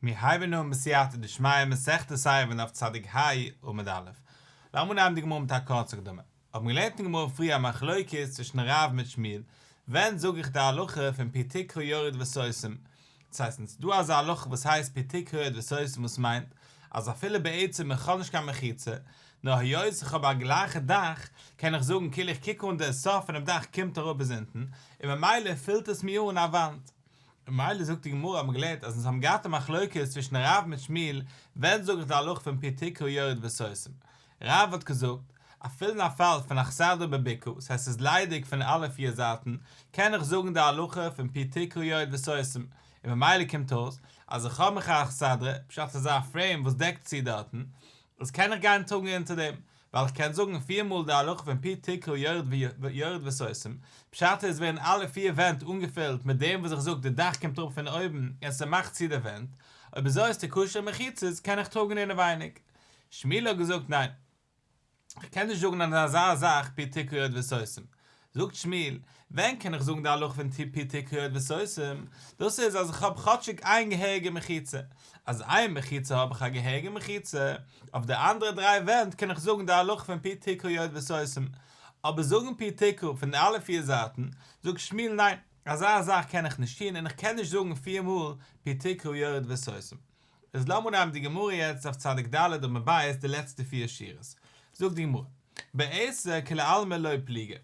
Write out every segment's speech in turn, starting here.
מיר הייבן אן בסייעתא דשמיא מסכת עירובין דף צדיק ה עמוד א'. לאמיר נעמען די גמרא מיט א קורצע הקדמה. האבן געלערנט אין גמרא פריער א מחלוקת צווישן רב מיט שמואל, ווען זאג איך די הלכה פון פי תקרא יורד וסוסים. דאס הייסט אונז דא אזא הלכה וואס הייסט פי תקרא יורד וסוסים וואס מיינט אז אפילו בעצם איך האב נישט קיין מחיצה, נאר היות איך האב א גלייכע דאך, קען איך זאגן כאילו איך קוק אן דער סוף פונעם דאך קומט אראפ ביז אונטן, און ממילא פילט עס מיר אן א וואנט. ממילא זאגט די גמרא אז מען גלערנט אז אונז האבן געהאט א מחלוקת צווישן רב מיט שמואל ווען זאגן די הלכה פון פי תקרא יורד וסוסים רב האט געזאגט אפילו אין א פאל פון אכסדרה בביקור ס'הייסט ס'איז ליידיג פון אלע פיר זייטן קען איך זאגן די הלכה פון פי תקרא יורד וסוסים און ממילא קומט אויס אז איך האב מיך א אכסדרה בשעת ס'איז א פרעים וואס דעקט צו דארטן דאס קען איך גיין טראגן אונטער דעם, ווייל איך קען זאגן פיר מאל די הלכה פון פי תקרא יורד ויורד וסוסים, פשט איז ווערן אלע פיר ווענט אנגעפילט מיט דעם וואס איך זאג די דאך קומט אראפ פון אויבן און ס'מאכט צו די ווענט, אויב אזוי איז די כשר מחיצות קען איך טראגן אינעווייניג. שמואל האט געזאגט ניין. כ'קען נישט זאגן אן אזא זאך פי תקרא יורד וסוסים. זאגט שמואל, ווען קען איך זאגן די הלכה פון טו פי טו קריעות וסוסים, דאס איז אז איך האב כאטשיג איין געהעריגע מחיצה, אז איין מחיצה האב איך א געהעריגע מחיצה, אויף די אנדערע דריי ווענט קען איך זאגן די הלכה פון פי טו קריעות וסוסים, אבער זאגן פי טו קרע פון די אלע פיר זייטן, זאגט שמואל ניין, אזא זאך קען איך נישט טון און איך קען נישט זאגן פיר מאל פי טו קריעות וסוסים, איז לאמיר נעמען די גמרא יעצט אויף צדיק ד' עמוד ב' די לעצטע פיר שורות, זאגט די גמרא, בעשה כ לעלמא לא פליגי,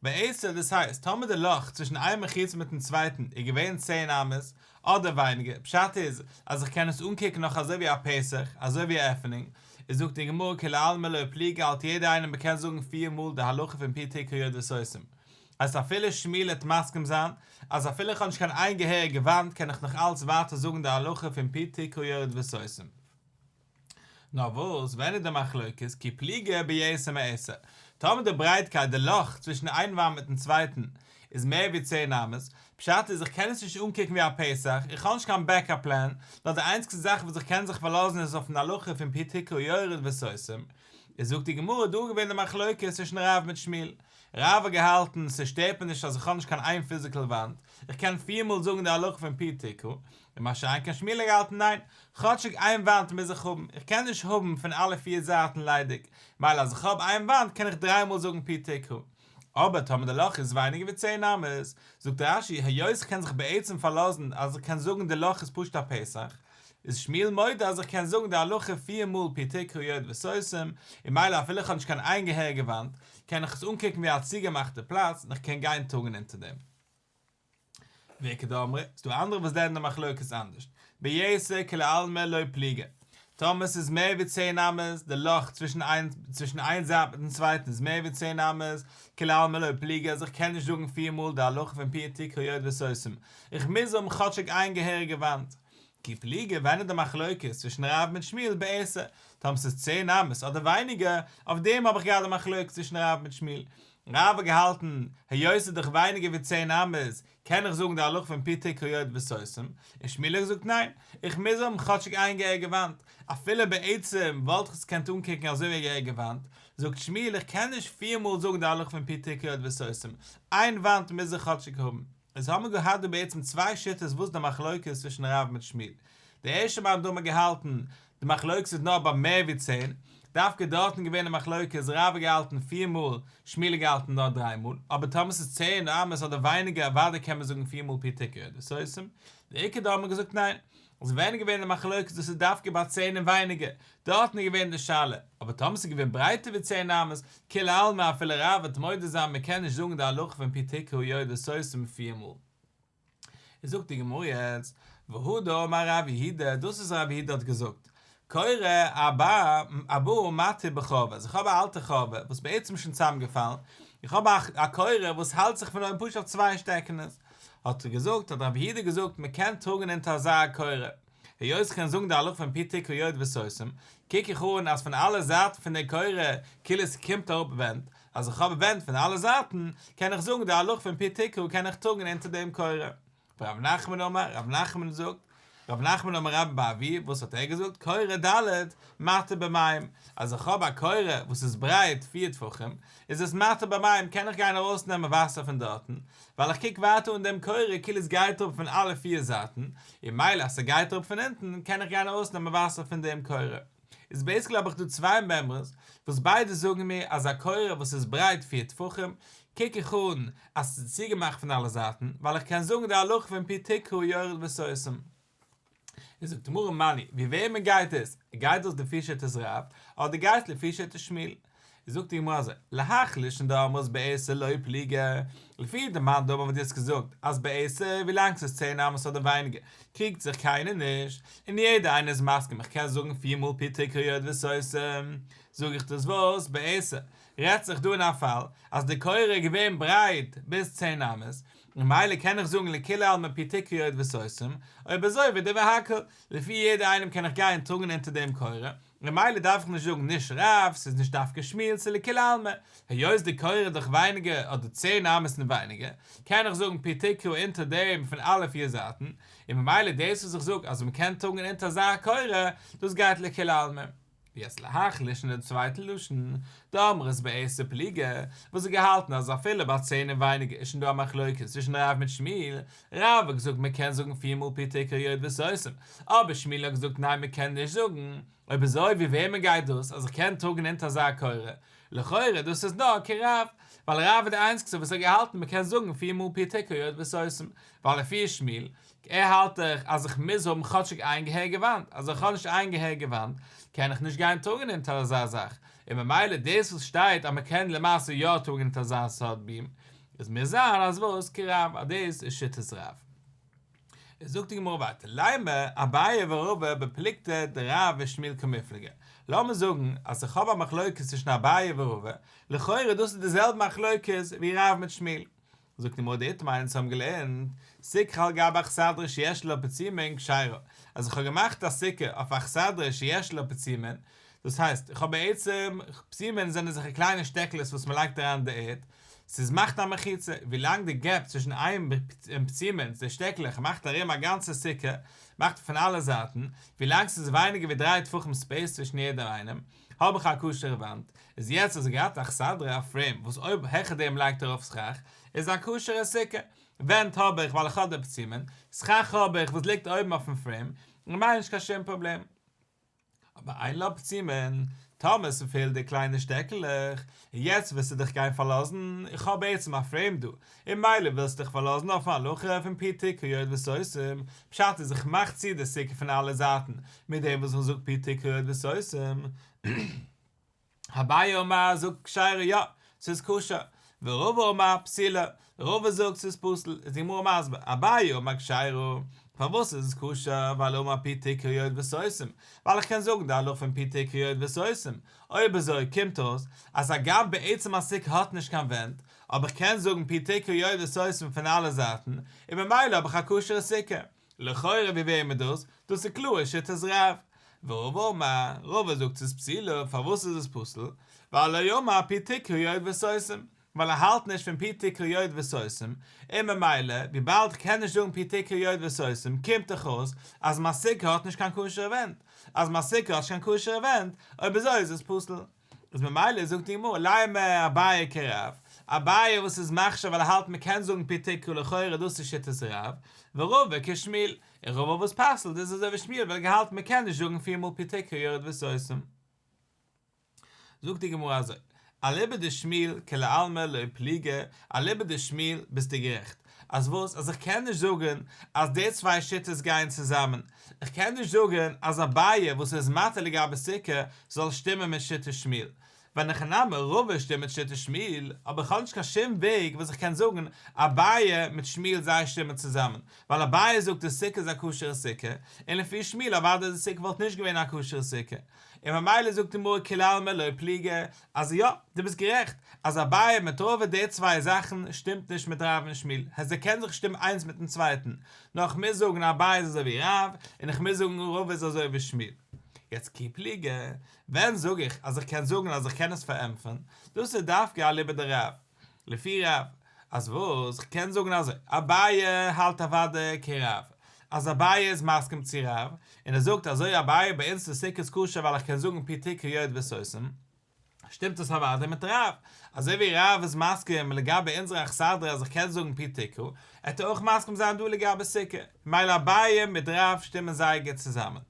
בעשה דאס הייסט טאמער די לאך צווישן איין מחיצה מיטן צווייטן איז געווען צען אמות אדער ווייניגער, פשט איז אז איך קען עס אנקוקן נאך אזוי ווי א פסח, אזוי ווי א עפענונג, איז זאגט די גמרא כ לעלמא לא פליגי האלט יעדער איינער מען קען זאגן פיר מאל די הלכה פון פי ת קריאת וסוסים, אז אפילו שמואל העט מסכים זיין אז אפילו איך האב נישט קיין איין געהעריגע וואנט קען איך נאך אלץ ווייטער זאגן די הלכה פון פי תקעו יורד וסוסים. נאר וואס, ווען איז די מחלוקת? כי פליגה ביעשה מעשה. טאמער די ברייטקייט, די לאך, צווישן איין וואנט מיטן צווייטן איז מער ווי צען אמות, פשט איז איך קען עס נישט אנקוקן ווי א פסח, איך האב נישט קיין בעקאפ פלען, נאר די איינציגסטע זאך וואס איך קען זיך פארלאזן איז אויפן הלכה פון פי תקעו יורד וסוסים. איז זאגט די גמרא דא געווען די מחלוקת צווישן רב מיט שמואל, רב האט געהאלטן ס'שטערט מיר נישט אז איך האב נישט קיין איין פיזיקעל וואנט, איך קען פיר מאל זאגן די הלכה פון פי ת ק, און מה שאין כן שמואל האט געהאלטן ניין, כאטשיג איין וואנט מוז איך האבן, איך קען נישט האבן פון אלע פיר זייטן ליידיג, מילא אז איך האב איין וואנט קען איך דריי מאל זאגן פי ת ק. אבער טאמער די לאך איז ווייניגער ווי צען אמות, זאגט רש י היות איך קען זיך בעצם פארלאזן אז איך קען זאגן די לאך איז פשוט א פסח, איז שמואל מודה אז איך קען זאגן די הלכה פיר מאל פי ת קריאות וסוסים, און מילא אפילו איך האב נישט קיין איין געהעריגע וואנט, קען איך עס אנקוקן ווי א צוגעמאכטע פלאץ און איך קען גיין טאגן אונטער דעם. ועיקא דאמרי, איז דא אנדערע וואס זעען די מחלוקת אנדערשט, בייסע כלעלמא לא פליגא, טאמער ס'איז מער ווי צען אמות, די לאך צווישן איין זייט מיטן צווייטן איז מער ווי צען אמות, כלעלמא לא פליגא אז איך קען נישט זאגן פיר מאל די הלכה פון פיר ת קריאות וסוסים, איך מוז האבן כאטשיג איין געהעריגע וואנט. קי פליגער ווען איז די מחלוקת צווישן רב מיט שמואל בעסער? טאמער ס'איז צען אמות אדער ווייניגער, אויף דעם האב איך געהאט די מחלוקת צווישן רב מיט שמואל. רב האט געהאלטן, היות ס'איז דאך ווייניגער ווי צען אמות, קען איך זאגן די הלכה פון פתי קריות וסוסים, און שמואל האט געזאגט ניין, איך מוז האבן כאטשיג איין געהעריגע וואנט. אפילו בעצם וואלט איך עס געקענט אנקוקן אזוי ווי א געהעריגע וואנט, זאגט שמואל איך קען נישט פיר מאל זאגן די הלכה פון פתי קריות וסוסים, איין וואנט מוז איך כאטשיג האבן. אונז האמער געהאט דא בעצם צוויי שיטות וואס די מחלוקת איז צווישן רב מיט שמואל. די ערשטע מאן דאמר געהאלטן, די מחלוקת איז נאר ביי מער ווי צען, דווקא דארטן געווען די מחלוקת, רב האט געהאלטן פיר מאל, שמואל האט געהאלטן נאר דריי מאל, אבער טאמער ס'איז צען אמות אדער ווייניגער אוודאי קען מען זאגן פיר מאל פי תקע ד סוסים, די עיקר דא האמער געזאגט ניין, עס איז ווען געווען די מחלוקת דאס איז דווקא ביי צען און ווייניגער, דארטן איז געווען די שאלה, אבער טאמער עס איז געווען ברייטער ווי צען אמות, כולי עלמא אפילו רב וועט מודה זיין מען קען נישט זאגן די הלכה פון פי תקעו ידו סוסים מיט פיר מאל. איז זאגט די גמרא יעצט, והא דאמר רב יהודה, דאס וואס רב יהודה האט געזאגט, קורא אבא אבא מתי בחובה, אז איך האב א אלטע חובה וואס בעצם איז שוין צוזאמגעפאלן, איך האב א קורא וואס האלט זיך פון אויבן פשוט אויף צוויי שטעקענעס, האט ער געזאגט, האט רבי יהודה געזאגט, מען קען טראגן אונטער אזא קורא, היות איך קען זאגן די הלכה פון פי תקעו יורד וסוסים, קוק איך אן אז פון אלע זייטן פון די קורא, כאילו עס קומט אראפ ווענט, אז איך האב ווענט פון אלע זייטן, קען איך זאגן די הלכה פון פי תקעו קען איך טראגן אונטער דעם קורא. רב נחמן אמר, רב נחמן זאגט, רב נחמן אמר רב באבי, וואס האט ער געזאגט, קורה ד' מטה במים, אז איך האב א קורה וואס איז ברייט פיר טפחים, איז עס מטה במים, קען איך גיין ארויס נעמען וואסער פון דארטן, ווייל איך קוק ווייטער אן דעם קורה כאילו עס גייט אראפ פון אלע פיר זייטן, און מילא אז ס'גייט אראפ פון אונטן, קען איך גיין ארויס נעמען וואסער פון דעם קורה. איז בעיסיקלי האב איך דא צוויי מעמרעס וואס ביידע זאגן מיר אז א קוראן וואס איז ברייט פֿיר טפחים קוק איך אן אז עס איז צוגעמאכט פון אלע זייטן ווייל איך קען זאגן די הלכה פון פי תקהו יורד וסוסים איז זאגט מרן מני ווי וועמען גייט עס? גייט דאס לפי שיטת רב אדער גייט עס לפי שיטת שמואל? זאגט די גמרא אזוי, להחליש אין די אמות בער ס' לא פליגי, לפי די מאן דאמר וואלט יעצט געזאגט אז בער ס' ווילאנג ס'איז צען אמות אדער ווייניגער קריגט זיך קיינער נישט, און יעדער איינער איז מסכים איך קען זאגן פיר מאל פתחי קריות וסוסים זאג איך דאס וואס בער ס' רעדט זיך דא אין א פאל אז די קריה איז געווען ברייט ביז צען אמות ממילא קען איך זאגן לכולי עלמא פתחי קריות וסוסים, אויב אזוי ודי והכל, לפי יעדער איינעם קען איך גיין טראגן אונטער דעם קריה, ממילא דארף איך נישט זאגן נישט רב, ס'איז נישט דווקא שמואל צו לכולי עלמא, היות די קור איז דאך ווייניגער אדער צען אמות און ווייניגער, קען איך זאגן פי תקרה אונטער דעם פון אלע פיר זייטן, און ממילא דאס וואס איך זאג אז מ'קען טראגן אונטער אזא קור, דאס גייט לכולי עלמא. יעצט להחליש'ן דעם צווייטן לשון, די אמרות בעשר פלוגה, וואס האט געהאלטן אז אפילו ביי צען און ווייניגער איז שוין דא א מחלוקת צווישן רב מיט שמואל, רב האט געזאגט מען קען זאגן פיר מאל פתח כיוד וסוסים, אבער שמואל האט געזאגט ניין מען קען נישט זאגן, אויב אזוי ווי וועמען גייט דאס אז איך קען טראגן אונטער אזא קורה? לכאורה דאס איז נאר כרב, ווייל רב איז די איינציגסטער וואס האט געהאלטן מען קען זאגן פיר מאל פתח כיוד וסוסים, ווייל לפי שמואל, ער האלט דאך אז איך מוז האבן כאטשיג איין געהער געוואנט, אז איך האב נישט איין געהער געוואנט קען איך נישט גיין טראגן אונטער אזא זאך, און ממילא דאס וואס שטייט אז מען קען למעשה יא טראגן אונטער אזא סארט ביהמ איז מיר זר אז וואס כ רב אז דאס איז שיטת רב. איז זאגט די גמרא ווייטער ליימר אביי ורבא בפלוגתא דרב ושמואל כמפלגה, לאמיר זאגן אז איך האב א מחלוקת צווישן אביי ורבא, לכאורה דאס איז די זעלבע מחלוקת ווי רב מיט שמואל. זאגט די גמרא די טעם איינס האבן געלערנט סקך על גב אכסדרה שיש לו פצימין כשרה, אז איך האב געמאכט א סוכה אויף אכסדרה שיש לו פצימין, דאס הייסט, איך האב בעצם, פסימען זענען זיכער קליינע שטעקלעס וואס מען לייגט אריין אין די ערד, ס'איז מאכט א מחיצה, ווי לאנג די געפ צווישן איין און פסימענס, די שטעקלעך, מאכט ארום א גאנצע סוכה, מאכט פון אלע זייטן, ווי לאנג ס'איז ווייניגער ווי דריי טפחים ספעיס צווישן יעדעם איינעם, האב איך א כשר'ע וואנט, איז יעצט אז ער גראדט א כסדר'ע א פרעים וואס אויב העכער דעם לייגט ארויף סכך, איז עס א כשר'ע סוכה, ווענט האב איך ווייל איך האב די פסימען, סכך האב איך וואס ליגט אויבן אויפן פרעים, און מיין נישט קיין שום פראבלעם. אבער איין לאפ צימען, טאמער ס'פעלט די קליינע שטעקלעך, און יעצט ווילסטו דיך גיין פארלאזן, איך האב בעצם א פרעים דא, און מילא ווילסטו דיך פארלאזן אויפן הלכה פון פתי קריות וסוסים, פשט איז איך מאך צו די סוכה פון אלע זייטן מיט דעם וואס איך זאג פתי קריות וסוסים, אביי אמר זאגט כשרע יא ס'איז כשר ורבא אמר פסילה רבא זאגט ס'איז פסול איז די גמרא מסביר אביי אמר כשרע פארוואס איז עס כשר ווייל אמר ע פ תקריות וסוסים ווייל איך קען זאגן די הלכה פון פי תקריות וסוסים אויב אזוי קומט אויס אז הגם בעצם א סוכה האט נישט קיין ווענט אבער איך קען זאגן פי תקריות וסוסים פון אלע זייטן און ממילא האב איך א כשר'ע סוכה. לכאורה ווי ווערט מען דאס? דאס איז קלאר שיטת רב. ורוב אמר, רוב זאגט ס'איז פסילא, פארוואס איז עס פסול? ווייל לא יאמר פי תקרי יוד וסוסים, ווייל ער האלט נישט פון פי תקרי יוד וסוסים, און ממילא וויבאלד כ'קען נישט זאגן פי תקרי יוד וסוסים קומט דאך אויס אז מיין סוכה האט נישט קיין כשר'ע ווענט, אז מיין סוכה האט נישט קיין כשר'ע ווענט אויב אזוי איז עס פסול. איז ממילא זאגט די גמרא למה אביי כרב, אביי וואס איז מחשיב ווייל ער האלט מען קען זאגן פי ת ק לכאורה דאס איז שיטת רב, ורובא כשמואל, און רובא וואס פסל'ט איז אזוי ווי שמואל וועלכע האלט מען קען נישט זאגן פיר מאל פי ת ק יורד וסוסים. זאגט די גמרא אזוי, אליבא דשמואל כלעלמא לא פליגי, אליבא דשמואל ביסטו גערעכט, אז וואס? אז איך קען נישט זאגן אז די צוויי שיטות גייען צוזאמען? איך קען נישט זאגן אז אביי וואס איז מתיר לגבי סוכה זאל שטימען מיט שיטת שמואל? ווען איך נעם רובא שטימט מיט שיטת שמואל, אבער איך האב נישט קיין שום וועג וואס איך קען זאגן אביי מיט שמואל זיי שטימען צוזאמען, ווייל אביי זאגט די סוכה איז א כשר'ע סוכה, און לפי שמואל אוודאי די סוכה וואלט נישט געווען א כשר'ע סוכה, און ממילא זאגט די מרא כלעלמא לא פליגי אז יא, דו ביסט גערעכט, אז אביי מיט ראובן די צוויי זאכן שטימט נישט מיט רב און שמואל, העס זיי קען זיך שטימען איינס מיטן צווייטן, נאר איך מוז זאגן אביי איז אזוי ווי רב, און איך מוז זאגן ראובן איז אזוי ווי שמואל. יעצט קיפליגער, ווען זאג איך אז איך קען זאגן אז איך קען עס פארענטפערן, דאס איז דווקא אליבא דרב. לפי רב, אז וואס? כ'קען זאגן אז אביי האלט אוודאי כ ר אז אביי איז מסכים צו רב, און ער זאגט אזוי אביי ביי אונז איז סוכות כשר ווייל איך קען זאגן פי ת קריאות וסוסים, שטימט עס אוודאי מיט רב, אזוי ווי רב איז מסכים לגבי אונזער אכסדרה אז איך קען זאגן פי ת ק, עט ער אויך מסכים זיין דא לגבי סוכה, ממילא אביי מיט רב שטימען זייער גוט צוזאמען.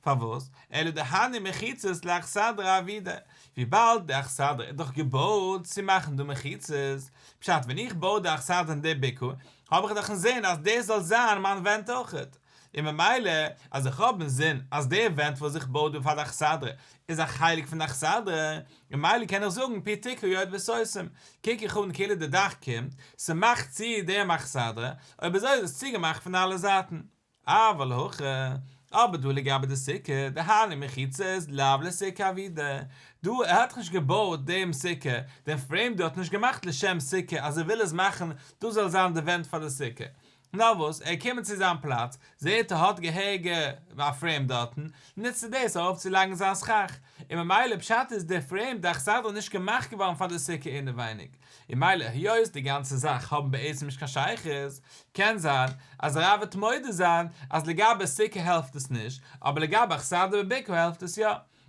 פארוואס? אלא דהני מחיצות לאכסדרה אבידה, וויבאלד די אכסדרה איז דאך געבויט צו מאכן דא מחיצות, פשט ווען איך בוי די אכסדרה אין די בקעה האב איך דאך אינזין אז דאס זאל זיין מיין ווענט אויכעט, און ממילא אז איך האב אינזין אז די ווענט וואס איך בוי דא פאר די אכסדרה איז א חלק פון די אכסדרה, ממילא קען איך זאגן פי תקעו יורד וסוסים, קוק איך אן כאילו די דאך קומט, ס'מאכט צו דעם אכסדרה, אויב אזוי איז עס צוגעמאכט פון אלע זייטן. אווא להכא, אבער דא לגבי די סוכה, דהיינו מחיצה איז לאו לסוכה אבידה, דא ער האט נישט געבויט דעם סוכה, דעם פרעים דא האט מען נישט געמאכט לשם סוכה אז ער וויל עס מאכן דאס זאל זיין די ווענט פאר די סוכה, נאר וואס ער קומען צו זיין פלאץ זעהט ער האט געהעריגע א פרעים דארטן, נוצט ער דאס ארויף צו לייגן זיין סכך, און ממילא פשט איז דער פרעים דאך סיידא נישט געמאכט געווארן פאר די סוכה אינעווייניג. און מילא היות די גאנצע זאך האבן בעצם נישט קיין שייכות, קען זיין אז הרב וועט מודה זיין אז לגבי סוכה העלפט עס נישט, אבער לגבי הכסדר בביקור העלפט עס יא,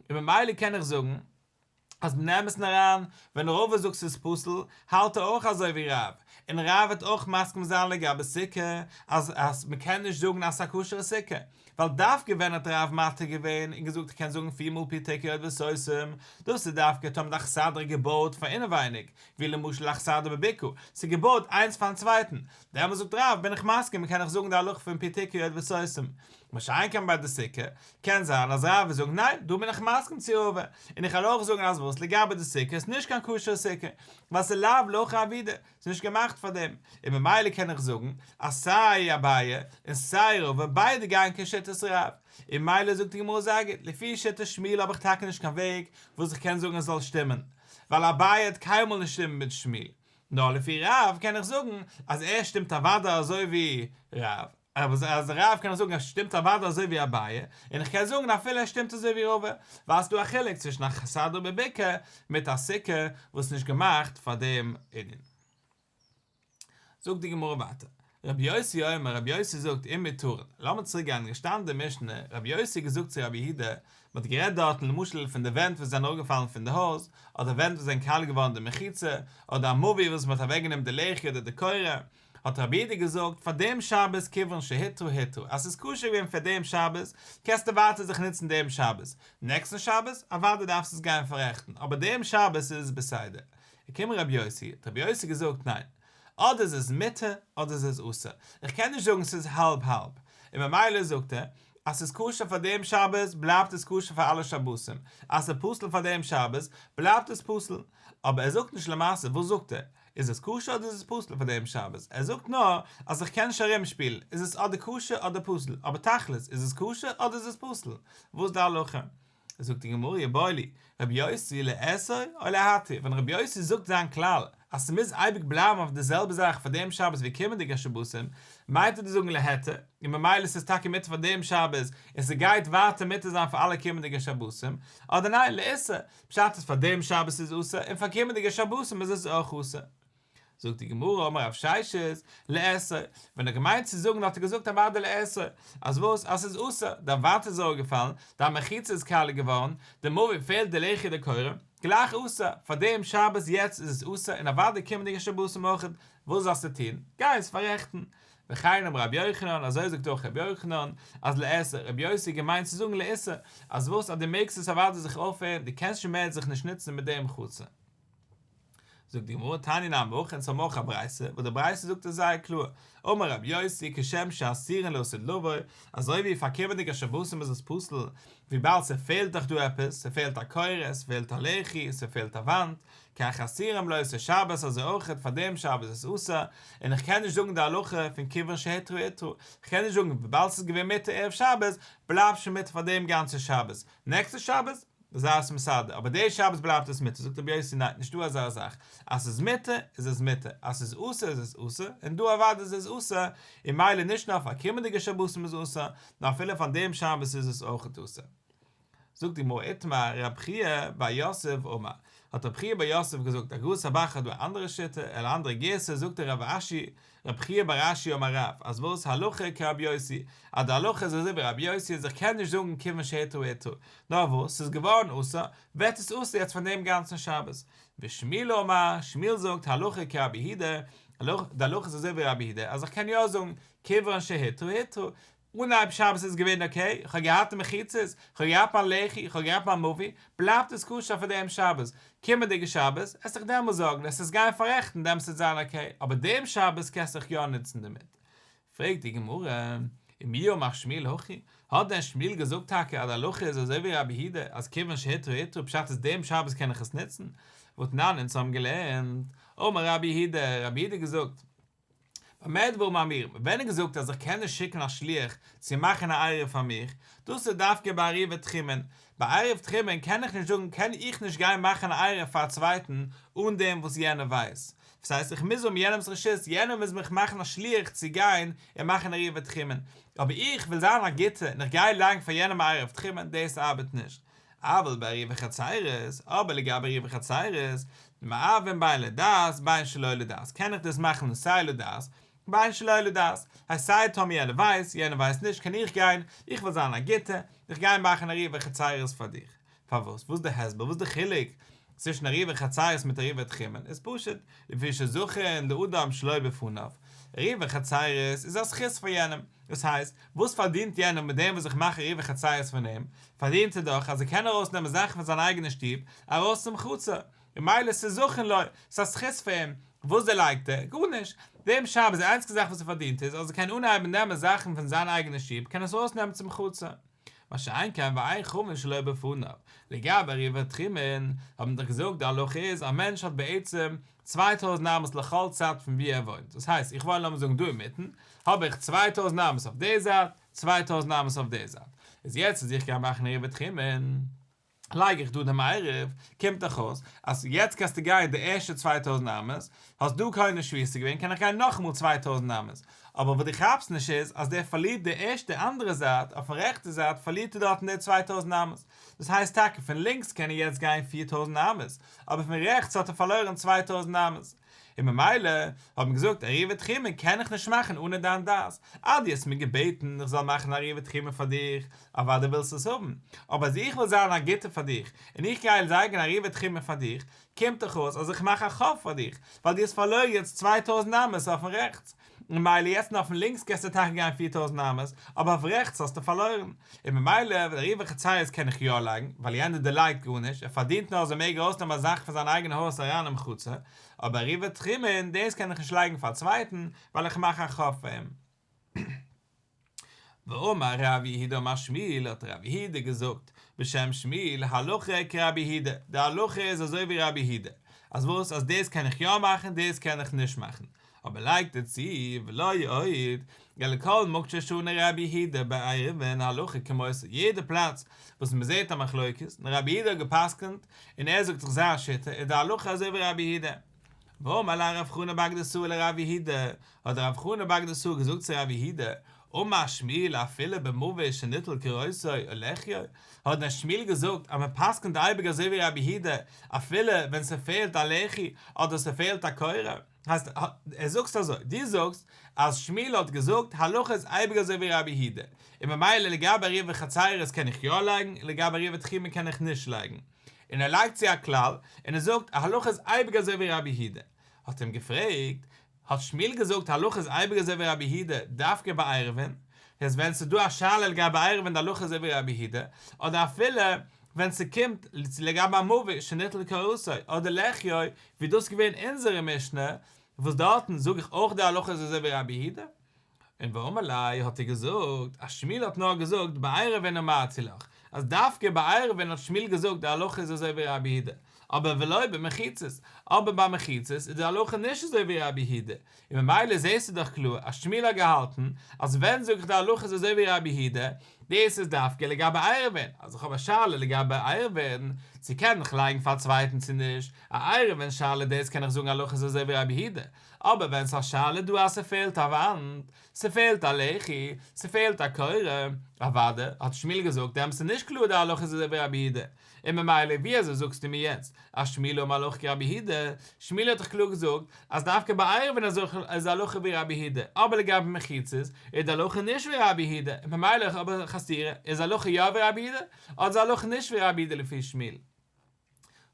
און ממילא קען איך זאגן אז מן האמת און אריין ווען ראובן זאגט ס'איז פסול, האלט ער אויך אזוי ווי רב, און רב וועט אויך מסכים זיין לגבי סוכה אז אז מ'קען נישט זאגן אז ס'איז א כשר'ע סוכה, ווייל דווקא ווען האט הרב מתיר געווען און געזאגט כ'קען זאגן פיר מאל פתקי אויט וסוסים? דאס איז דווקא טאמער די אכסדרה געבויעט פאר אינעווייניג, ווי למשל אכסדרה בביקור, ס'איז געבויעט איינס פארן צווייטן, דעמאלס זאגט רב בין איך מסכים און קען איך זאגן די הלכה פון פתקי אויט וסוסים. מה שאין כן ביי די סוכה, קען זיין אז רב וועט זאגן ניין, דא בין איך מסכים צו רבא, און איך וועל אויך זאגן אז וואס לגבי די סוכה איז נישט קיין כשר'ע סוכה, ווייל ס'איז לאו לכה אבידה, ס'איז נישט געמאכט פאר דעם. און ממילא קען איך זאגן אז סיי אביי און סיי ראובן ביידע גייען כ ש שיטת רב. און מילא זאגט די גמרא זייגער, לפי שיטת שמואל האב איך טאקע נישט קיין וועג וואס איך קען זאגן עס זאל שטימען, ווייל אביי האט קיינמאל נישט שטימט מיט שמואל. נאר לפי רב קען איך זאגן אז ער שטימט אוודאי אזוי ווי רב. אז אז רב קען זאגן אז שטימט אוודאי אזוי ווי אביי, און איך קען זאגן אפילו אז שטימט אזוי ווי רבא, ווייל עס איז דא א חילוק צווישן א כסדר בבקע מיט א סוכה וואס נישט געמאכט פאר דעם ענין. זאגט די גמרא ווייטער, רבי יוסי אומר רבי יוסי זאגט אין מיטורין, לאמיר צוריק גיין, געשטאנען אין די משנה, רבי יוסי געזאגט צו רבי יהודה, מען האט גערעדט דארטן למשל פון די ווענט וואס זענען אראפגעפאלן פון די הויז, אדער ווענט וואס זענען קאלט געווארן די מחיצה, אדער א מאווי וואס מען האט אוועקגענומען די לעכער אדער די קורה, האט רבי איד געזאגט פאר דעם שבת כיוון שהיתרו היתרו אז ס'איז כשר געווען פאר דעם שבת קענסטו ווייטער זיך נוצן דעם שבת, נעקסטן שבת אוודאי דארפסט עס גיין פאררעכטן אבער דעם שבת איז עס בסדר. כמ רבי יוסי האט רבי יוסי געזאגט ניין, אדער איז עס מותר אדער איז עס אסור, איך קען נישט זאגן ס'איז האלב האלב, און ממילא זאגט ער אז ס'איז כשר פאר דעם שבת בלייבט עס כשר פאר אלע שבתים, אז ס'איז פסול פאר דעם שבת בלייבט עס פסול, אבער ער זאגט נישט למעשה וואס זאגט ער? איז עס כשר אדער איז עס פסול פאר דעם שבת? ער זאגט נאר אז איך קען נישט ארום שפילן, איז עס אדער כשר אדער פסול, אבער תכלית איז עס כשר אדער איז עס פסול? וואס די הלכה? זאגט די גמרא יבא לי ר' יוסי לאסור או להתיר, ווען ר' יוסי זאגט זיין כלל אז ס'מוז אייביג בלייבן אויף די זעלבע זאך פאר דעם שבת ווי קומענדיגע שבתים, מיינט ער דאס זאגן להתיר, און ממילא ס'איז טאקע מותר פאר דעם שבת און ס'גייט ווייטער מותר זיין פאר אלע קומענדיגע שבתים, אדער ניין לאסור, פשט אז פאר דעם שבת איז עס אסור און פאר קומענדיגע שבתים איז עס אויך אסור. זאגט די גמרא, אמר רב ששת, לאסור, ווען ער האט געמיינט צו זאגן האט ער געזאגט א ווארט די לאסור, אז וואס? אז עס איז אסור, דיין וואנט איז אראפגעפאלן, דיין מחיצה איז קאלע געווארן, די מבין פעלט די לחי די קורה, גלייך אסור, פאר דעם שבת יעצט איז עס אסור און אוודאי קומענדיגע שבתים אויך, וואס זאלסטו טון? גיי עס פאררעכטן, וכן אמר רבי יוחנן, אזוי זאגט אויך רבי יוחנן, אז לאסור, רבי יוסי האט געמיינט צו זאגן לאיסור, אז וואס אז דו מעגסט עס אוודאי זיך אויפהערן, דו קענסט שוין מער זיך נישט נוצן מיט דעם חצה. זאגט די גמרא, תני נא מוכ, אונז האבן אויך א ברייתא, וואס די ברייתא זאגט עס זייער קלאר, אמר רבי יוסי, כשם שאסירין לאסור דלוה, אזוי ווי פארקומענדיגע שבתים איז עס פסול, וויבאלד ס'פעלט דאך דא עפעס, ס'פעלט א קורת, ס'פעלט א לחי, ס'פעלט א וואנט, קיין חסירים לא עושה שבת אזוי אויכעט פאר דעם שבת איז אסור, און איך קען נישט זאגן די הלכה פון כיוון שהיתרו היתרו, איך קען נישט זאגן וויבאלד ס'איז געווען מותר ערב שבת בלייבט שוין מותר פאר דעם גאנצע שבת, נעקסטע שבת זיי עס מסדר, אבער די שבת בלייבט עס מותר, זאגט רבי יוסי ניין נישטא אזא זאך, אז ס'איז מותר איז עס מותר, אז ס'איז אסור איז עס אסור, און דא אוודאי איז עס אסור, און מילא נישט נאר פאר קומענדיגע שבתים איז אסור, נאר אפילו פאר דעם שבת איז עס אויכעט אסור. זאגט די גמרא איתמר רב חייא בר יוסף אמר, האט רב חייא בר יוסף געזאגט, אגרות סבח האט דא א אנדערע שיטה, על אנדערע גירסא זאגט דער רב אשי, רב חייא בר אשי אמר רב, אז וואס הלכה כרב יוסי, אז די הלכה איז אזוי ווי רב יוסי אז איך קען נישט זאגן כיוון שהיתר היתר, נאר וואס ס'איז געווארן אסור, ווערט עס אסור יעצט פאר דעם גאנצן שבת. ושמואל אמר, שמואל זאגט, הלכה כרב יהודה, די הלכה איז אזוי ווי רב יהודה, אז איך קען יא זאגן כיוון שהיתר היתר, אנהייב שבת איז געווען אקעי, כ'האב געהאט מחיצות, כ'האב געהאט מיין לחי, כ'האב געהאט מיין מאווי, בלייבט עס כשר פאר דעם שבת, קומענדיגע שבת, עס דיך דעמאלס זארגן, עס איז גיין פארעכטן, דעמאלס וועט זיין אקעי, אבער דעם שבת קענסט דיך יא נוצן דערמיט. פרעגט די גמרא, ומי אמר שמיל הכי? האט דען שמיל געזאגט טאקע אז הלכה איז אזוי ווי רבי יהודה, אז כיוון שהיתרו היתרו פשט איז דעם שבת קען איך עס נוצן? ותנן, אונז האבן געלערנט, אמר רבי יהודה, רבי יהודה געזאגט, באמת דברים אמורים, ווען איז געזאגט אז איך קען נישט שיקן א שליח צו מאכן א עירוב פאר מיך, דאס איז דווקא ביי עירובי תחומין, ביי עירוב תחומין קען איך נישט זאגן קען איך נישט גיין מאכן א עירוב פאר א צווייטן אן דעם וואס יענער ווייסט, וואס הייסט איך מוז האבן יענעמס רשות, יענער מוז מיך מאכן א שליח צו גיין און מאכן עירובי תחומין, אבער איך וויל זיין א גוטער און איך גיי לאנג פאר יענעם א עירוב תחומין, דאס ארבעט נישט. אבל ביי ריח וחצירות, אבער לגבי ריח וחצירות, מערבים ביין לדעת, ביין שלא לדעת, קען איך דאס מאכן לסיי לדעת, ביין שלא לדעת, הייסט סיי טאמי יענער ווייסט, יענער ווייסט נישט, קען איך גיין, איך וויל זיין א גוטע, איך גיי מאכן א ריח וחצירות פאר דיך, פארוואס, וואס די הסבר, וואס די חילוק, צווישן עריבה חצרות מיט עריבה תחומין איז פשוט, לפי שזכרין לאדם שלא בפניו, עריבה חצרות איז א זכות פאר יענעם, דאס הייסט, וואס פארדינט יענער מיט דעם וואס איך מאך עריבה חצרות פון אים, פארדינט ער דאך אז ער קען ארויסנעמען זאכן פון זיין אייגענע שטוב ארויס צום חצר, ממילא ס'איז זכרין לו, ס'איז א זכות פאר אים, וואס דערלייגט ער? גארנישט, דעם שבת די איינציגסטע זאך וואס ער פארדינט איז אז ער קען אנהייבן נעמען זאכן פון זיין אייגענע שטוב, קען עס ארויסנעמען צום חצר. מה שאין כן ואין חומין שלא בפניו, לגבי א ריווח תחומין האט מען דאך געזאגט די הלכה איז א מענטש האט בעצם צוויי טויזנט אמות לכל צד פון וואו ער וואוינט, דאס הייסט איך וואוין לאמיר זאגן דא אינמיטן, האב איך צוויי טויזנט אמות אויף די זייט, צוויי טויזנט אמות אויף די זייט, איז יעצט אז איך גיי מאכן א ריווח תחומין, לייג איך דא דעם עירוב, קומט דאך אויס אז יעצט קענסטו גיין די ערשטע צוויי טויזנט אמות, האסט דא קונה שביעית געווען קען איך גיין נאכאמאל צוויי טויזנט אמות, אבער וואס דו כאפסט נישט איז אז דער פארלירט די ערשטע אנדערע זייט, אויפן רעכטע זייט פארלירט ער דארטן די צוויי טויזנט אמות, דאס הייסט טאקע פון לינקס קען ער יעצט גיין פֿיר טויזנט אמות, אבער פון רעכטס האט ער פארלוירן צוויי טויזנט אמות. און ממילא האט מען געזאגט א ריווי תחימה קען איך נישט מאכן אנע דיין דעת, אה דו האסט מיר געבעטן איך זאל מאכן א ריווי תחימה פאר דיך, אוודאי ווילסטו עס האבן, אבער אז איך וויל זיין א גוטער פאר דיך און איך גיי לייגן א ריווי תחימה פאר דיך, קומט דאך אויס אז איך מאך א חוב פאר דיך, ווייל דו האסט פארלוירן יעצט צוויי טויזנט אמות אויפן רעכטס, ממילא יעצט אויפן לינקס קענסטו טאקע גיין פֿיר טויזנט אמות, אבער אויף רעכטס האסטו פארלוירן, און ממילא ווען ריווח חציות קען איך יא לייגן, ווייל יענער דערלייגט גארנישט, ער פארדינט נאר אז ער מעג ארויסנעמען א זאך פון זיין אייגענע הויז אריין אין מחוצה, אבער ריווח תחומין דאס קען איך נישט לייגן פאר א צווייטן, ווייל איך מאך א חוב פאר אים. ואמר רבי יהודה אמר שמואל האט רבי יהודה געזאגט בשם שמואל הלכה כרבי יהודה די הלכה איז אזוי ווי רבי יהודה אז וואס אז דאס קען איך יא מאכן דאס קען איך נישט מאכן אבער לייגט ער צו ולא יעיד אלא כל מוקשה שנה רבי יהודה בעירבין הלכה כמותו יעדע פלאץ וואס מען זעט א מחלוקת און רבי יהודה האט געפסקנט און ער זאגט זיך זיין שיטה איז די הלכה אזוי ווי רבי יהודה. ואמר לה רב חנה בר גדא סור לרב יהודה, האט רב חנה בר גדא סור געזאגט צו רב יהודה, אמר שמיל אפילו במוות שניטל כרעותי או לחיו, האט דען שמיל געזאגט אז מען פסק'נט אייביג אזוי ווי רב יהודה, אפילו ווען ס'פעלט א לחי אדער ס'פעלט א קורה? הייסט ער זאגסט אזוי, דו זאגסט אז שמיל האט געזאגט הלכה איז אייביג אזוי ווי רב יהודה, און ממילא לגבי ריבה חצירות קען איך יא לייגן, לגבי ריבה תחימה קען איך נישט לייגן. און ער לייגט צו א כלל, און ער זאגט, א הלכה איז אייביג אזוי ווי רבי היהודה האט אים געפרעגט, האט שמואל געזאגט, הלכה איז אייביג אזוי ווי רבי היהודה, דווקא ביי עירובין, דאס ווען ס'איז דא א שאלה לגבי עירובין די הלכה איז אזוי ווי רבי היהודה, אדער אפילו ווען ס'קומט לגבי א מאווי שניטל כרסוי אדער לחיו, ווי דאס איז געווען אונזערע משנה, וואס דארטן זאג איך אויך די הלכה איז אזוי ווי רבי היהודה. און ואמר ליה האט ער געזאגט אז שמואל האט נאר געזאגט בעירובין אמרתי לך, אז דווקא בעירובין האט שמואל געזאגט די הלכה איז אזוי ווי רבי יהודה, אבער ולא במחיצות, אבער ביי מחיצות איז די הלכה נישט אזוי ווי רבי יהודה, און ממילא זעסטו דאך קלאר אז שמואל האט געהאלטן אז ווען זאג איך די הלכה איז אזוי ווי רבי יהודה, דאס איז דווקא לגבי עירובין, אז איך האב א שאלה לגבי עירובין צו קען איך לייגן פאר א צווייטן צו נישט, א עירובין שאלה דאס קען איך זאגן הלכה איז אזוי ווי רבי יהודה, אבער ווען ס'איז א שאלה דא אז ס'פעלט א וואנט, ס'פעלט א לחי, ס'פעלט א קורה, אוואדע, האט שמואל געזאגט, דעמאלטס איז נישט קלאר די הלכה איז אזויווי רבי יהודה, און ממילא ווי אזוי זאגסטו מיר יעצט אז שמואל האט מהלך כרבי יהודה, שמואל האט דאך קלאר געזאגט אז דווקא ביי עירובין אזויכל איז די הלכה ווי רבי יהודה, אבער לגבי מחיצות איז די הלכה נישט ווי רבי יהודה, ממילא אויב איז א חסירה איז די הלכה יא ווי רבי יהודה, אט איז די הלכה נישט ווי רבי יהודה לפי שמואל.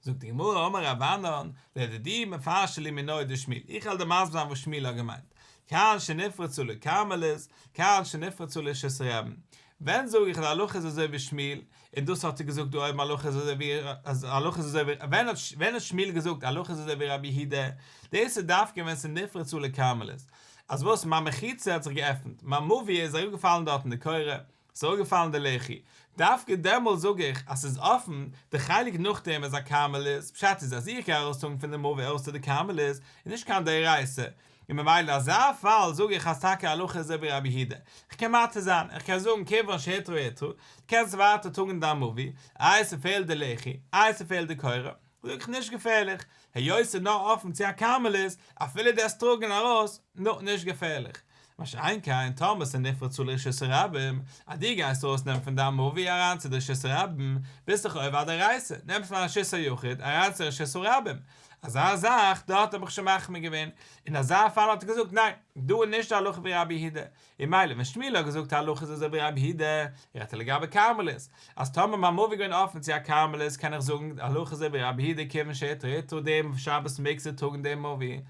זאגט די גמרא, אמר רבנן, לדידי מפרשי לי מינוי' דשמואל, איך העל דיר מסביר זיין וואס שמואל האט געמיינט, כיון שנפרצו לי כרמלות, כיון שנפרצו לי שסערעבן, ווען זאג איך אז הלכה איז אזוי ווי שמואל, און דאס האט ער געזאגט דא אויבן הלכה איז אזוי ווי אז הלכה איז אזוי ווי, ווען האט ווען האט שמואל געזאגט הלכה איז אזוי ווי רבי יהודה, דאס איז דווקא ווען ס'נפרצו לי כרמלות, אז וואס מיין מחיצה האט זיך געעפנט, מיין מאוויע איז אראפגעפאלן דארט אין די קורה, ס'אויגעפאלן די לחי. דווקא דעמאלט זאג איך אז ס'איז אפן, די חלק נאכדעם איז א כרמלית, פשט איז אז איך גיי ארויסטראגן פון די מוה אויס צו די כרמלית, איז נישט קיין דאורייסא, און ממילא אזא פאל זאג איך אז טאקע הלכה איז אזויווי רבי היהודה, איך קען מתיר זיין, איך קען זאגן כיוון שהיתרו התרו, קענסט ווייטער טראגן דיין מוה, איי ס'פעלט די לחי, איי ס'פעלט די קורה. ווירקט נישט געפערליך, היות ס'איז נאר אפן צו א כרמלית, אפילו די אסטראגען ארויס, נא, נישט געפערליך. מה שאין כן טאמער ס'איז נפרד צו לרשות הרבים, אז דו גייסט ארויסנעמען פון דיין מאווי אריין צו די רשות הרבים, ביסטעך אויב א דערייסער, נעמסט פון א רשות היחיד אריין צו רשות הרבים, אזא זאך, דארט האב איך שוין מחמיר געווען, אין אזא פאל האט ער געזאגט, ניין, דא איז נישט די הלכה ווי רבי יהודה, און מילא ווען שמואל האט געזאגט א הלכה איז אזוי ווי רבי הידא, ער האט לגבי כרמלית, אז טאמער מיין מאווי געווען אפען צו א כרמלית קען איך זאגן א הלכה אזוי ווי רבי הידא כיוון שהתריתו דעם שבת מעגסטו טראגן דעם מאווי,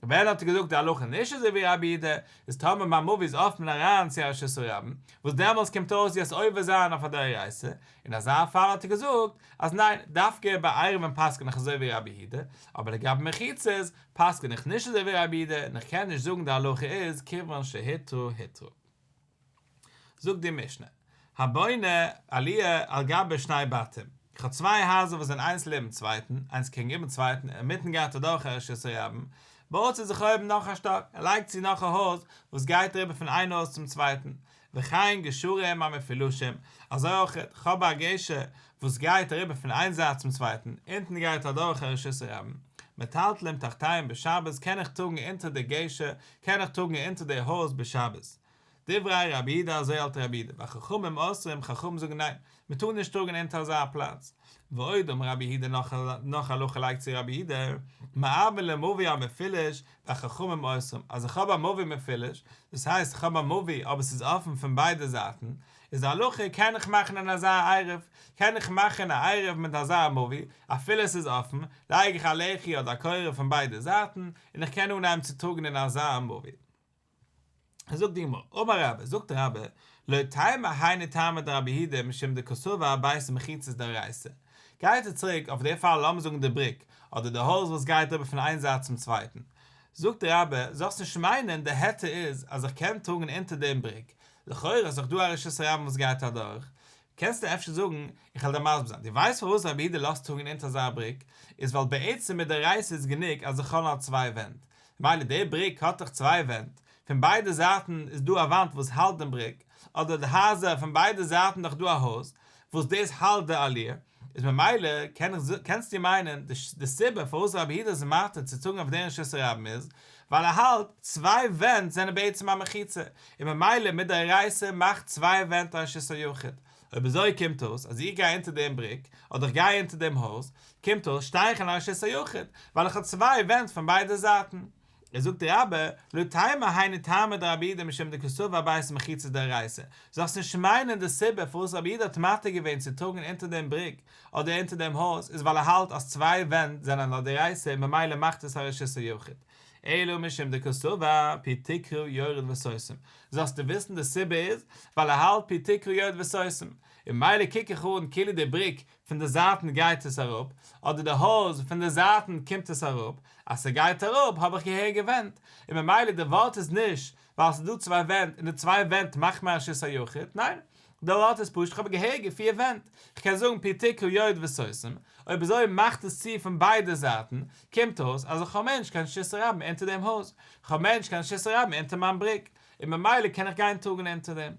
ווען האט ער געזאגט די הלכה נישט אזוי ווי רבי הידא, איז טאמער מיין מאווי איז אפען אריין צו א שסע רבים, וואס דעמאלס קומט אויס ווי עס עובר זיין אויף א דאורייסע, אין אזא פאל האט ער געזאגט אז ניין דווקא ביי עירובין פסק'ן איך אזוי ווי רבי הידא, אבער לגבי מחיצות פסק'ן איך נישט אזוי ווי ר' אבידע און איך קען נישט זאגן די הלכה איז כיוון שהיתרו היתרו. זאגט די משנה, הבונה עליה על גבי שני בתים, איך האב צוויי הייזער וואס זענען איינס לעבן צווייטן, איינס קעגן איבערן צווייטן, אינמיטן גייט אדורך א רשות הרבים, בויט זי זיך אויבן נאך א שטאק, ער לייגט צו נאך א הויז וואס גייט אריבער פון איין הויז צום צווייטן, וכן גשרים המפילושים, אזוי אויך חב א גשר וואס גייט אריבער פון איין זייט צום צווייטן, אונטן גייט אדורך א רשות הרבים, מטלטלים תחתיהם בשבת קען איך טראגן אונטער די גשר, קען איך טראגן אונטער די הויז בשבת. דברי רבי ד אזוי האלט רבי ד, ביי חכמים אוסרים, חכמים זאגן ניין, מען טאר נישט טראגען אונטער אזא פלאץ. ועוד אמר רבי יהודה נאך הלכה לייגט צו רבי יהודה, מאבן למביא א מפיליש והחכמים אוסרים, אז איך האב א מביא מפיליש, דאס הייסט איך האב א מביא אבער ס'איז אפן פון ביידע זייטן, איז די הלכה קען איך מאכן אן אזא עירוב, קען איך מאכן א עירוב מיט אזא מביא, אפילו ס'איז אפן, לייג איך א לחי אדער א קורה פון ביידע זייטן, און איך קען אנהייבן צו טראגן אין אזא מביא. זאגט די גמרא, אמר רבא, זאגט רבא, לא תימא הייני תמא דרבי הידא משום דקאסובא הבית איז מחיצת דאורייתא, גייט ער צוריק אויף די פאל לאמיר זאגן די בריק, אדער די הויז וואס גייט אריבער פון איין זייט צום צווייטן, זאגט רבא, זאלסט נישט מיינען די היתר איז אז איך קען טראגן אונטער דעם בריק, לכאורה איז דאך דא א רשות הרבים וואס גייט אדורך, קענסטו אפשר זאגן, איך וועל דיר מסביר זיין, דו ווייסט פארוואס רבי הידא לאזט טראגן אונטער אזא בריק, איז ווייל בעצם מדאורייתא איז גענוג אז די חלון האט צוויי ווענט, ממילא די בריק האט דאך צוויי ווענט, פון ביידע זייטן איז דא א וואנט וואס האלט דעם בריק, אדער די הייזער פון ביידע זייטן דאך דא א הויז וואס דאס האלט די עליה, איז ממילא קען איך זאגן, קענסטו מיינען, די סיבה פארוואס רבי יהודה איז מתיר צו צאגן אויף דעם רשות הרבים איז, ווייל ער האלט, צוויי ווענט זענען בעצם א מחיצה, און ממילא מדאורייתא מאכט צוויי ווענט א רשות היחיד, אויב אזוי קומט אויס אז איך גיי אונטער דעם בריק, אדער איך גיי אונטער דעם הויז, קומט אויס שטיי איך אין א רשות היחיד, ווייל איך האב צוויי ווענט פון ביידע זייטן. איז זאגט דער רבי, לא תימא הייני תימא דרבי אידא משום דקסובא הבית מחיצה דאורייתא, זאלסט נישט מיינען די סיבה פארוואס רבי אידא האט מתיר געווען צו טראגן אונטער דעם בריק, אדער אונטער דעם הויז, איז ווייל ער האלט אז צוויי ווענט זענען א דאורייתא און ממילא מאכט עס א רשות היחיד. אלא משום דקסובא פי תקרא יורד וסוסים, זאלסטו וויסן די סיבה איז ווייל ער האלט פי תקרא יורד וסוסים, און מילא קוק איך אן כאילו די בריק פון די זייטן גייט עס אראפ, אדער די הויז פון די זייטן קומט עס אראפ, אז ס'גייט אראפ האב איך געהער געווענדט, און ממילא די ווארט איז נישט ווייל ס'איז דא צוויי ווענט און די צוויי ווענט מאכט מען א שות היחיד, ניין, די לאט איז פשוט כ'האב געהערט געפי א ווענט כ'קען זאגן פי תיקו יורד וסוסים אויב אזוי מאכט עס צו פון ביידע זייטן קומט אויס אז איך האב מענטש קיין שיסער רבים אונטער דעם הויז כ'האב מענטש קיין שיסער רבים אונטער מיין בריק און ממילא קען איך גיין טראגן אונטער דעם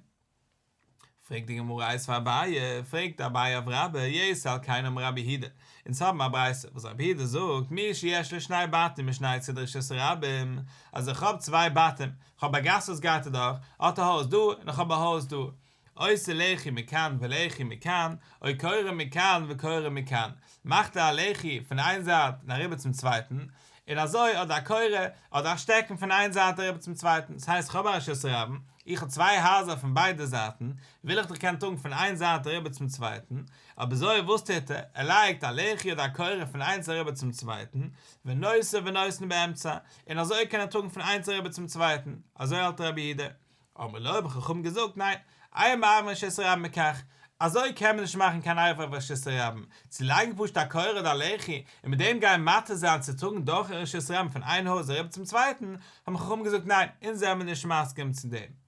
פרעגט די גמרא איז פאר אביי פרעגט אביי אויף רבא יעיס על קיינו מרבי הידע אונז האבן א ברייתא וואס רבי הידע זאגט מי שיש לו שני בתים משני צדי שיסער רבים אז איך האב צוויי בתים כ'האב א גאס וואס גייט אדורך, האט א הויז דא און כ'האב א הויז דא, עושה לחי מכאן ולחי מכאן, אוי קורא מכאן וקורא מכאן, מאכט ער א לחי פון איין זייט און אריבער צום צווייטן, און אזוי אדער א קורא אדער א שטעקן פון איין זייט אריבער צום צווייטן, ס'הייסט כ'האב א רשות הרבים, איך האב צוויי הייזער פון ביידע זייטן, וויל איך דאך קענען טראגן פון איין זייט אריבער צום צווייטן, אבזוי וואס טוט ער, ער לייגט א לחי אדער א קורא פון איינס אריבער צום צווייטן, ונושא ונותן באמצע, און אזוי קען ער טראגן פון איינס א רבי צום צווייטן, אזוי האלט רבי איהודה. אמר לו, האבן חכמים געזאגט, ניין, איה מערב מן שיסוי רבים מכך, אזוי קען מען נישט מאכן קיין אייוועלט ביי שיסוי רבים, צו לייגן פשוט א קורה אדער א לחי, און מיט דעם גיין מתיר זיין צו טראגן דורכן רשות רבים פון איין הויז אריבער צום צווייטן, האבן חכמים געזאגט, ניין, אונז זעמיר נישט מסכים צו דעם.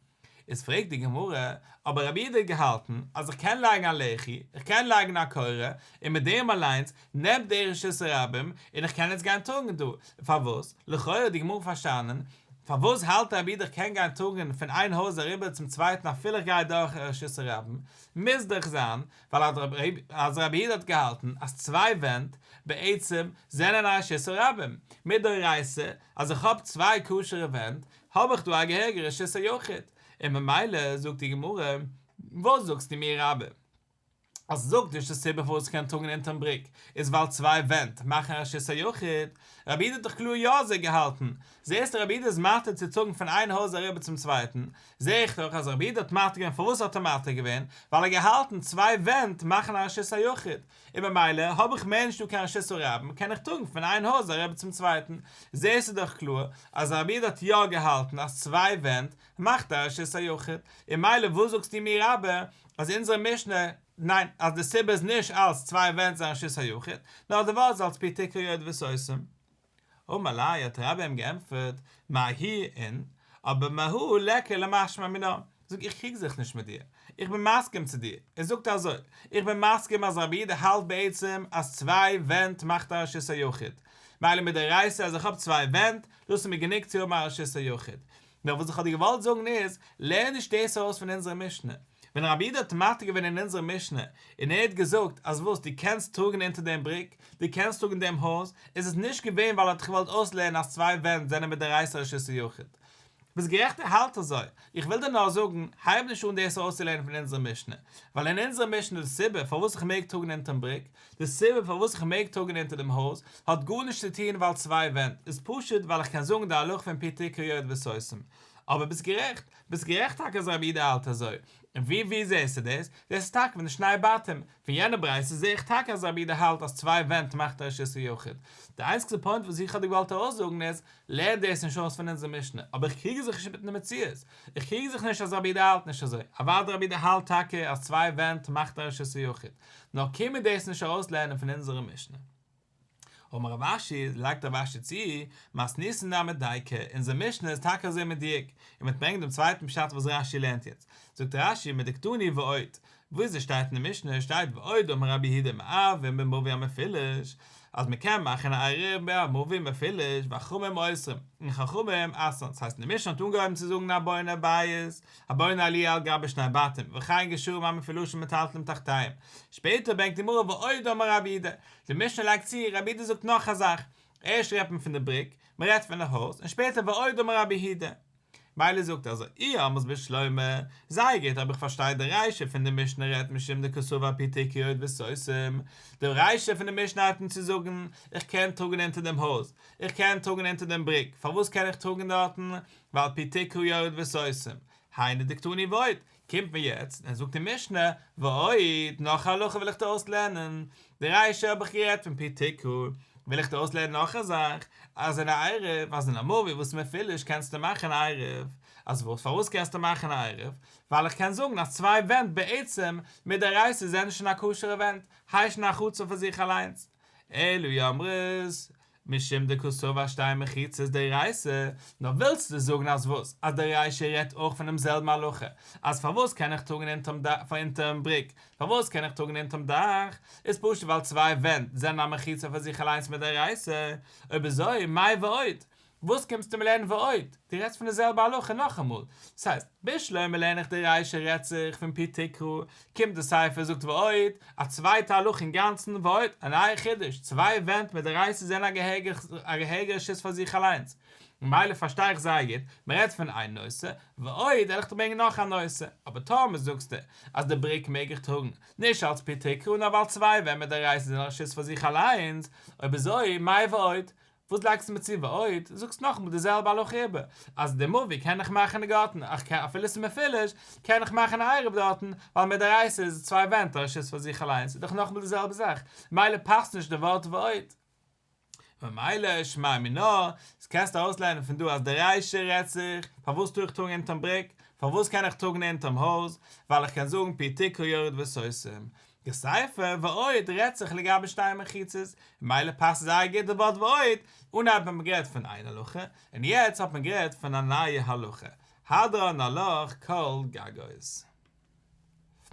איז פרעגט די גמרא, אבער רבי איד האט געהאלטן אז איך קען לייגן א לחי, איך קען לייגן א קורה, און מיט דעם אליינס נעמט דער רשות הרבים, און איך קען יעצט גיין טונקען דא, פארוואס? לכאורה האט די גמרא פארשטאנען, פארוואס האלט רבי איד איך קען גיין טונקען פון איין הויז אריבער צום צווייטן אפילו איך גיי דורך רשות הרבים? מוז דאך זיין ווייל אז רבי איד האט געהאלטן אז צוויי ווענט בעצם זענען א רשות הרבים מדאורייתא, אז איך האב צוויי כשר'ע ווענט האב איך דא א געהעריגע רשות היחיד, און ממילא זאגט די גמרא, וואס זאגסטו מיר רבי, אז זאגט די רשות סיבה פארוואס כ'קען טראגן אונטערן בריק איז ווייל צוויי ווענט מאכן א רשות היחיד, רבי איד האט דאך קלאר יא אזוי געהאלטן, זעהסט רבי איד איז מתיר צו טראגן פון איין הויז אריבער צום צווייטן, זעה איך דאך אז רבי איד האט מתיר געווען פארוואס האט ער מתיר געווען, ווייל ער האט געהאלטן צוויי ווענט מאכן א רשות היחיד, און ממילא האב איך מער נישטא קיין רשות הרבים קען איך טראגן פון איין הויז א רבי צום צווייטן, זעסטו דאך קלאר אז הרב איד האט יא געהאלטן אז צוויי ווענט מאכט א רשות היחיד, און מילא וואס זאגסטו מיר אבער אז אונזערע משנה ליינט אז די סיבה איז נישט אלס צוויי ווענט זיין רשות היחיד, נאר די ווארט איז אלס פי תקרא יורד וסוסים. אמר ליה האט רבא אים געענטפערט מהי אין אבער מהו לך למשמע מינה, זאג איך קריג זיך נישט מיט דיר, איך בין מסכים צו דיר, ער זאגט אזוי, איך בין מסכים אז רבי איד האלט בעצם אז צוויי ווענט מאכט א רשות היחיד, מילא מדאורייסא אז איך האב צוויי ווענט, דאס איז מיר גענוג צו האבן א רשות היחיד, נאר וואס איך האב דיר געוואלט זאגן איז, לערן נישט דאס אויס פון אונזערע משנה. ווען רבי יהודה האט מעתיק געווען אין אונזערע משנה, און ער האט געזאגט אז וואס דו קענסט טראגן אונטער דעם בריק, דו קענסט טראגן דעם הויז, איז עס נישט געווען ווייל ער האט געוואלט אויסלערנען אז צוויי ווענט זענען מיט די רייסער א שיסע יחיד. ביסט גערעכט ער האלט אזוי. איך וויל דיר נאר זאגן, הייב נישט אן דאס אויסצולערנען פון אונזערע משנה. ווייל אין אונזערע משנה איז די סיבה פארוואס איך מעג טראגן אונטערן בריק, די סיבה פארוואס איך מעג טראגן אונטער דעם הויז האט גארנישט צו טון ווייל צוויי ווענט, איז פשוט ווייל איך קען זאגן די הלכה פון פי תקע יורד וסוסים. אבער ביסט גערעכט, ביסט גערעכט טאקע אז רבי איד האלט אזוי. און ווי ווי זעסטו דאס? דאס איז טאקע פון די שני בתים. פון יענע ברייתא זע איך טאקע אז רבי איד האלט אז צוויי ווענט מאכט א רשות היחיד. די איינציגסטע פוינט וואס איך האב דיר געוואלט ארויסזאגן איז, לערן דאס נישט אויס פון אונזער משנה. אבער איך קריג זיך נישט מיטן די מציאות. איך קריג זיך נישט אז רבי איד האלט נישט אזוי. אוודאי רבי איד האלט טאקע אז צוויי ווענט מאכט א רשות היחיד. נאר קען מען דאס נישט ארויסלערנען פון אונזערע משנה. אמר רב אשי, לייגט רב אשי צו, מס ניסן דאן מיט דייקא, אונזער משנה איז טאקע אזוי מדויק, און מיט ברענגט דעם צווייטן פשט וואס רש י לערנט יעצט. זאגט רש י, מדקדני ועוד, וואו איז עס שטייט אין די משנה, שטייט ועוד אמר רבי יהודה מערבין במביא המפילש, אז מען קען מאכן א עירוב בין א מביא און מפילש, והחכמים אוסרים, און חכמים אסרן, ס'הייסט אין די משנה האט אנגעהויבן צו זאגן א בונה בית, הבונה עליה על גבי שני בתים, וכאן גשרו מים מפילושים מטלטלים תחתיהם. שפעטער ברענגט די גמרא ועוד אמר רבי אידא, די משנה לייגט צו, רבי אידא זאגט נאך א זאך, ערשט רעדט מען פון די בריק, מען רעדט פון די הויז, און שפעטער ועוד אמר רבי הידא. מילא זאגט אזוי אי ה מסביר שלמה, זייער גוט אבער איך פארשטיי די רישא פון די משנה רעדט נישט אום די קאסובא פי תקיות וסוסים, די רישא פון די משנה הייבט אן צו זאגן איך קען טראגן אונטער דעם הויז, איך קען טראגן אונטער דעם בריק, פארוואס קען איך טראגן דארטן, ועל פי תקרא יורד וסוסים, היינו דקטני ועוד, קומט מיר יעצט און זאגט אין משנה, ועוד, נאך א הלכה וויל איך דא אויסלערנען, די ריישא האב איך גערעדט פון פי תקרא, וויל איך דא אויסלערנען נאך א זאך, אז אין א עירוב, אז אין א מאווי וואס מען פיל נישט קענסטו מאכן א עירוב, אז וואס פארוואס קענסטו מאכן א עירוב, ווייל איך קען זאגן אז צוויי ווענט בעצם מיט די רייסער זענען שוין א כשר'ע ווענט, היישן א חצר פאר זיך אליינס, אלו יאמרו, משום די קאסאווא שטיין מחיצות דאורייתא, נו ווילסטו זאגן אז וואס? אז דער ריישע רעדט אויך פונעם זעלבן הלכה, אז פארוואס קען איך טראגן אונטערן דאך פאר אונטערן בריק, פארוואס קען איך טראגן אונטערן דאך, איז פשוט ווייל צוויי ווענט זענען א מחיצה פאר זיך אליינס מדאורייתא, אויב אזוי מאי ועוד, וואס קומסטו מיר לערנען ועוד, דו רעדסט פון די זעלבע הלכה נאכאמאל, ס'הייסט, בשלמא לערן איך דער ריישע רעדט זיך פון פי תקרא, קומט די ספר זאגט ועוד, א צווייטע הלכה אינגאנצן, ועוד, א נייע חידוש, צוויי ווענט מיט דערייסעס זענען א געהעריגער שות פאר זיך אליינס, ממילא פארשטיי איך זייער גוט, מען רעדט פון איין נושא, ועוד, העל איך דיך ברענגען נאך א נושא, אבער טאמער זאגסטו אז די בריק מעג איך טראגן, נישט אלס פי תקרה נאר ווייל צוויי ווענט מיט דערייסעס זענען א שות פאר זיך אליינס, אויב אזוי, מאי ועוד, וואס לייגסטו מיר צו ועוד, זאגסט נאכאמאל די זעלבע הלוך איבער, אז די מאווי קען איך מאכן אין גארטן, אך כ א אפילו ס'איז מפולש, קען איך מאכן א עירוב דארטן, ווייל מדאורייתא איז צוויי ווענט א רשות פאר זיך אליינס, איז דאך נאכאמאל די זעלבע זאך, ממילא פאסט נישט די ווארט ועוד. ממילא שמע מינה, אז קענסט ארויסלערנען פון דא אז די ריישא רעדט זיך, פארוואס טאר איך טראגן אונטערן בריק? פארוואס קען איך טראגן אונטערן הויז? ווייל איך קען זאגן פי תקרא יורד וסוסים, די ספר ועוד רעדט זיך לגבי שתי מחיצות, ממילא פאסט זייער גוט די ווארט ועוד, אנהייב האט מען גערעדט פון איין הלכה, און יעצט האט מען גערעדט פון א נייע הלכה, הדרן הלוך כל גגות.